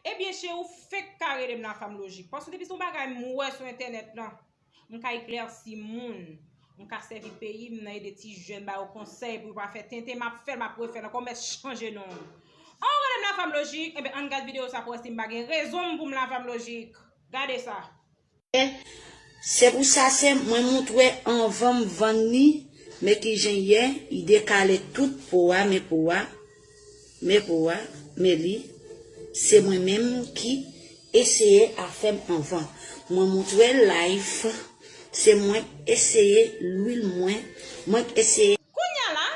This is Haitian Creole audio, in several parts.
Ebyen cheri ou fek ka relem la fanm lojik paske depi son bagay m wè sou entènèt lan m ka eklèsi moun m ka sèvi peyi m nan ede ti jèn ba yo konsèy pou yo pa fè tenten map fèl map refèl ankò m mèt chanje non m an ou relem la fanm lojik ebyen ann gad video sa pou wè si m pa gen rezon m pou m la fanm lojik gade sa. Se pou sa se mwen moutre anvan m vann li men ki jen ye i dekale tout po a men po a men po a men li se mwen menm ki eseye afè m anvan mwen moutre l life se mwen k eseye lwil mwen mwen k eseye. Kounya la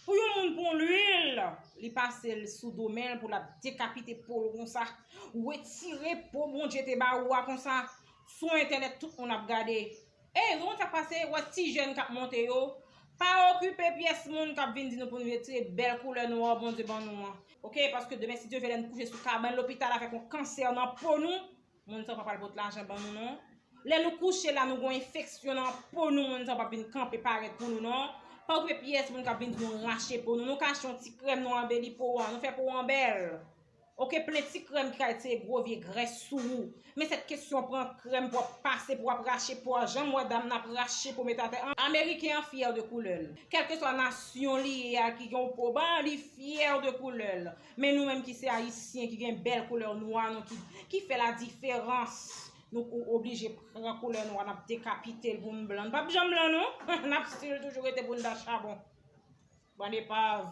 Pou yon moun pran lwil li pase l sou do men l pou l ap dekapite po l konsa ou retire po Bondye te ba ou a konsa sou entènèt tout moun ap gade ey ou konn sa k pase wè ti jèn k ap monte yo pa okipe pyès moun k ap vin di nou pou nou retire bèl koulè nwa Bondye ban nou an ok paske demen si Dye vle lè n kouche sou kabann lopital avèk yon kansè nan po nou. Moun sa pa pral pot lajan ban nou non. Lè nou kouche la nou gon enfeksyon nan po nou moun sa pap vin kanpe parèt pou nou non. Pa okipe pyès moun kap vin di nou rache po nou. Nou ka achte yon ti krèm nou anbeli po an. Nou fè po an bèl. Ok plen ti krèm ki ka retire gwo vye grès sou ou. Men sèt kesyon pran krèm pou ap pase pou ap rache po a. Janm wè dam nan ap rache po met atè an. Ameriken an fyè de koulè l. Kèlkeswa nasyon li ye a ki gen yon po ba li fyè de koulè l. Men nou menm ki se ayisyen ki gen bèl koulè nwa nou ki fè la diferans nou ou oblije pran koulè nwa nap dekapitel pou nou blan nou pap janm blan non nap stil toujou rete pou nou ta chabon bann epav.